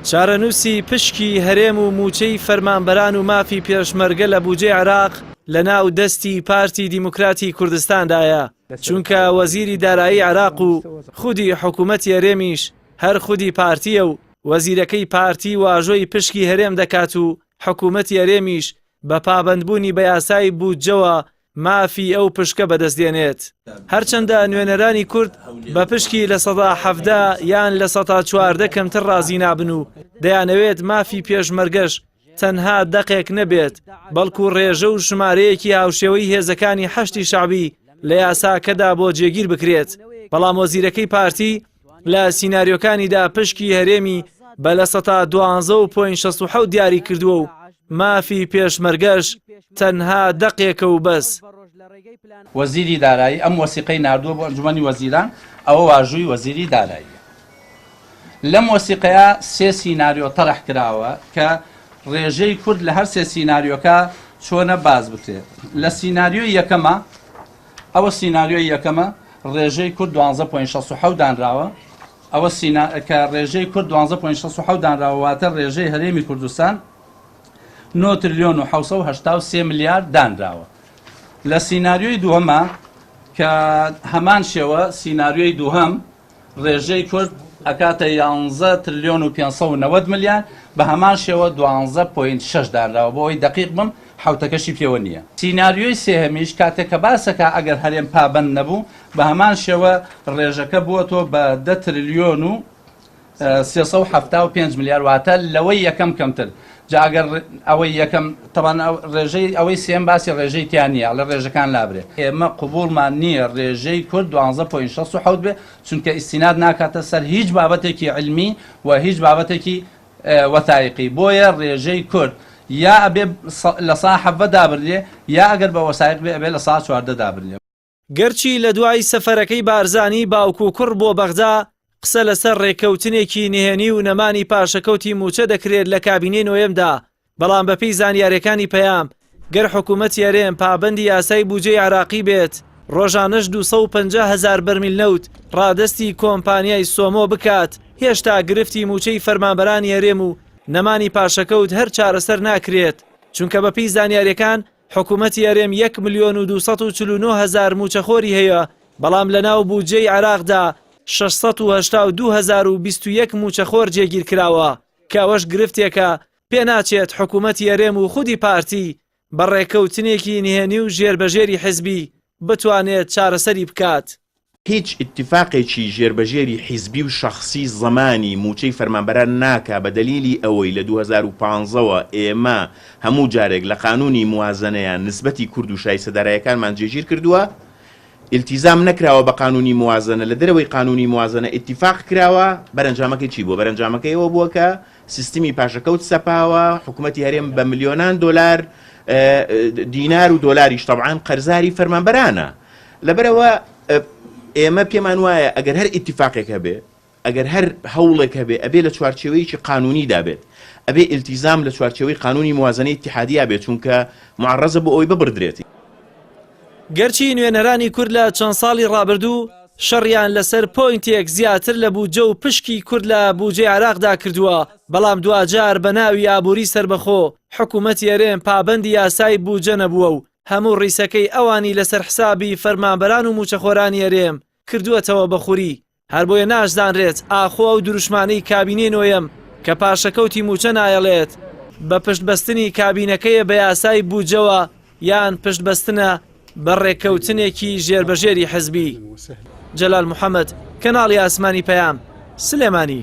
چارەنووسی پشکی هەرێم و مووچەی فەرمانبەران و مافی پێشمەرگە لە بووجەی عێراق لەناو دەستی پارتی دیموکراتی کوردستاندایە، چونکە وەزیری دارایی عێراق و خودی حکوومەتی هەرێمیش هەر خودی پارتییە و وەزیرەکەی پارتی واژۆی پشکی هەرێم دەکات و حکوومەتی هەرێمیش بە پابەندبوونی بە یاسای بوودجەوە مافی ئەو پشکە بەدەست دێنێت. هەرچەندە نوێنەرانی کورد بە پشکی لە سەدا حەڤدە یان لە سەتا چواردە کەمتر ڕازی نابن و دەیانەوێت مافی پێشمەرگەش تەنها دەقێک نەبێت بەڵکو ڕێژە و ژمارەیەکی هاوشێوەی هێزەکانی حەشتی شەعبی لە یاساکەدا بۆ جێگیر بکرێت بەڵام وەزیرەکەی پارتی لە سیناریۆکانیدا پشکی هەرێمی بە لە سەتا دوانزە و پۆین شەست و حەوت دیاری کردووە و مافی پێشمەرگەش تەنها دەقێکە و بەس. وەزیری دارایی ئەم وەسیقەی ناردووە بۆ ئەنجومەنی وەزیران، ئەوە واژووی وەزیری داراییە. لەم وەسیقەیە سێ سیناریۆ تەرح کراوە کە ڕێژەی کورد لە هەر سێ سیناریۆکە چۆنە باس بکرێت. لە سیناریۆی یەکەمە ئەوە سیناریۆی یەکەمە ڕێژەی کورد 12.67 دانراوە ئەوە سینا کە ڕێژەی کورد 12.67 دانراوە واتە ڕێژەی هەرێمی کوردستان 9 تریلیۆن و 1970 میلیارد دانراوە لە سیناریۆی دووەمە کە هەمان شێوە سیناریۆی دووهم ڕێژەی کورد ئەکاتە یانزە ترلیۆن و پێنج سەد و نەوەد ملیار، بە هەمان شێوە دوانزە پۆینت شەش دانراوە، بۆ ئەوەی دەقیق بم حەوتەکەشی پێوە نییە. سیناریۆی سێهەمیش کاتێک کە باسەکا ئەگەر هەرێم پابەند نەبوو، بە هەمان شێوە ڕێژەکە بووەتەوە بە دە ترلیۆن و سێ سەد و حەفتا و پێنج ملیار، واتە لەوەی یەکەم کەمتر. جا ئەگەر ئەوەی یەکەم تەبان ڕێژەی ئەوەی سێم باسی ڕێژەی تیا نیە ئەڵێ ڕێژەکان لابرێ ئێمە قبوڵمان نیە ڕێژەی کورد دوانزە پۆین شەست و حەوت بێ چونکە ئیستیناد ناکاتە سەر هیچ بابەتێکی علمی و هیچ بابەتێکی وەثایقی بۆیە ڕێژەی کورد یا ئەبێ لە سا حەڤە دابرلێ یا ئەگەر بە وەسایق بێ ئەبێ لە سا چواردە دابرلێ. گەرچی لە دوای سەفەرەکەی بارزانی باوک و کوڕ بۆ بەغدا قسە لەسەر ڕێککەوتنێکی نهێنی و نەمانی پاشەکەوتی مووچە دەکرێت لە کابینەی نۆیەمدا، بەڵام بەپێی زانیارییەکانی پەیام، گەر حکوومەتی هەرێم پابەندی یاسای بودجەی عێراقی بێت، ڕۆژانەش دوو سەد و پەنجا هەزار بەرمیل نەوت ڕادەستی کۆمپانیای سۆمۆ بکات، هێشتا گرفتی مووچەی فەرمانبەرانی هەرێم و نەمانی پاشەکەوت هەر چارەسەر ناکرێت، چونکە بەپێی زانیارییەکان، حکومەتی هەرێم یەک ملیۆن و دوو سەد و چل و نۆ هەزار مووچەخۆری هەیە، بەڵام لەناو بودجەی عێراقدا شەش سەد و هەشتا و دوو هەزار و بیست و یەک مووچەخۆر جێگیر کراوە، کە ئەوەش گرفتێکە پێناچێت حکومەتی هەرێم و خودی پارتی بە ڕێککەوتنێکی نهێنی و ژێربەژێری حزبی بتوانێت چارەسەری بکات. هیچ ئیتیفاقێکی ژێربەژێری حیزبی و شەخسی زەمانی مووچەی فەرمانبەران ناکا بە دەلیلی ئەوەی لە دوو هەزار و پازدە وە ئێمە هەموو جارێک لە قانوونی موازەنەیە نسبەتی کورد و شایستە دارایەکانمان جێگیر کردووە ئیلتیزام نەکراوە بە قانوونی موازەنە لە دەرەوەی قانوونی موازەنە ئیتیفاق کراوە بەرەنجامەکەی چی بووە بەرەنجامەکەی ئەوە بووە کە سیستمی پاشەکەوت سەپاوە، حکومەتی هەرێم بە ملیۆنان دۆلار، دینار و دۆلاریش تەبعان قەرزاری فەرمانبەرانە. لەبەرئەوە ئێمە پێمان وایە ئەگەر هەر ئیتیفاقێک هەبێ، ئەگەر هەر هەوڵێک هەبێ ئەبێ لە چوارچێوەیەکی قانوونیدا بێت. ئەبێ ئیلتیزام لە چوارچێوەی قانوونی موازەنەی ئیتیحادیە بێت، چونکە موعەڕەزە بۆ ئەوەی ببڕدرێت. گەرچی نوێنەرانی کورد لە چەند ساڵی ڕابردوو شەڕیان لەسەر پۆینتێک زیاتر لە بودجە و پشکی کورد لە بودجەی عێراقدا کردووە، بەڵام دواجار بە ناوی ئابووری سەربەخۆ، حکوومەتی هەرێم پابەندی یاسای بودجە نەبووە و هەموو ڕیسەکەی ئەوانی لەسەر حسابی فەرمانبەران و مووچەخۆرانی هەرێم کردووەتەوە بە خوری. هەربۆیە ناشزانرێت ئاخۆ ئەو دروشمانەی کابینەی نۆیەم کە پاشەکەوتی مووچە نایەڵێت، بە پشت بەستنی کابینەکەیە بە یاسای بودجەوە یان پشت بەستنە بە ڕێککەوتنێکی ژێربەژێری حزبی. جەلال محەمەد، کەناڵی ئاسمانی پەیام، سلێمانی.